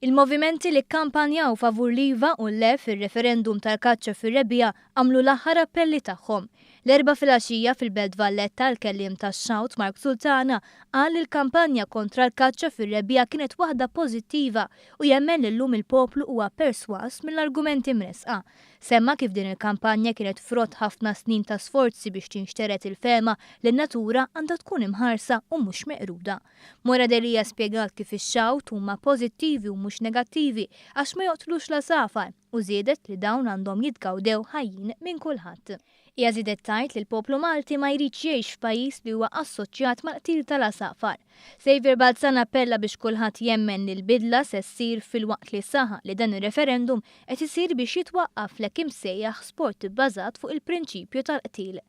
Il-movimenti li kkampanjaw favur l-iva u l-le fir-referendum tal-kaċċa fir-rebbiegħa għamlu l-aħħar appelli tagħhom. L-Erbgħa filgħaxija fil-Belt Valletta l-kelliem tax-Shout Mark Sultana qal li l-kampanja kontra l-kaċċa fir-rebbiegħa kienet waħda pożittiva u jemmen li llum il-poplu huwa persważ mill-argumenti mressqa. Semma kif din il-kampanja kienet frott ħafna snin ta' sforzi biex tinxtered il-fehma li n-natura għandha tkun imħarsa u mhux meqruda. Moira Delia spjegat kif ix-xgħut huma pożittivi u mhux negattivi għax ma joqtlux l-għasafar u żiedet li dawn għandhom jitgawdew ħajjin minn kulħadd. Hija żiedet tgħid li l-poplu Malti ma jridx jgħix f'pajjiż li huwa assoċjat mal-qtil tal-għasafar. Saviour Balzan appella biex kulħadd jemmen li l-bidla se ssir filwaqt li saħaq li dan ir-referendum qed isir biex jitwaqqaf l-hekk imsejjaħ sport ibbażat fuq il-prinċipju tal-qtil.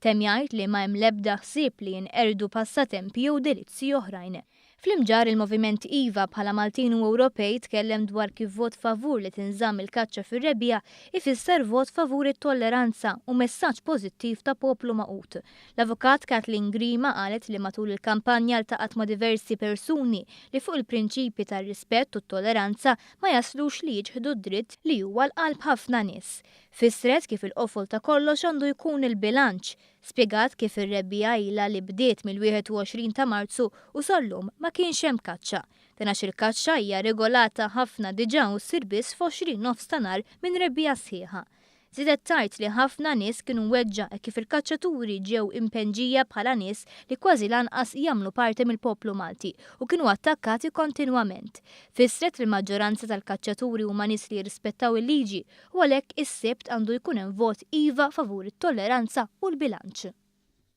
Temm jgħid li ma hemm l-ebda ħsieb li jinqerdu passatempi jew delizzji oħrajn. Fl-Imġarr il-Moviment iva bħala Maltin u Ewropej tkellem dwar kif vot favur li tinżamm il-kaċċa fir-rebbiegħa ifisser vot favur it-tolleranza u messaġġ pożittiv ta' poplu magħqud. L-Avukat Kathleen Grima qalet li matul il-kampanja ltaqgħet ma' diversi persuni li fuq il-prinċipji tar-rispett u t-tolleranza ma jaslux li jiċħdu d-dritt li huwa l-qalb ħafna nies. Fissret kif il-qofol ta' kollox għandu jkun il-bilanċ. Spjegat kif ir-rebbiegħa ilha li bdiet mill-21 ta' Marzu u sal-lum ma kienx hemm kaċċa. Dan għax il-kaċċa hija regolata ħafna diġà u ssir biss f'għoxrin nofs ta' nhar minn rebbiegħa sħiħa. Żiedet tgħid li ħafna nies kienu mweġġa' hekk kif il-kaċċaturi ġew impenġija bħala nies li kważi lanqas jagħmlu parti mill-poplu Malti u kienu attakkati kontinwament. Fissret li l-maġġoranza tal-kaċċaturi huma nies li jirrispettaw il-liġi u għalhekk is-Sibt għandu jkun hemm vot iva favur it-tolleranza u l-bilanċ.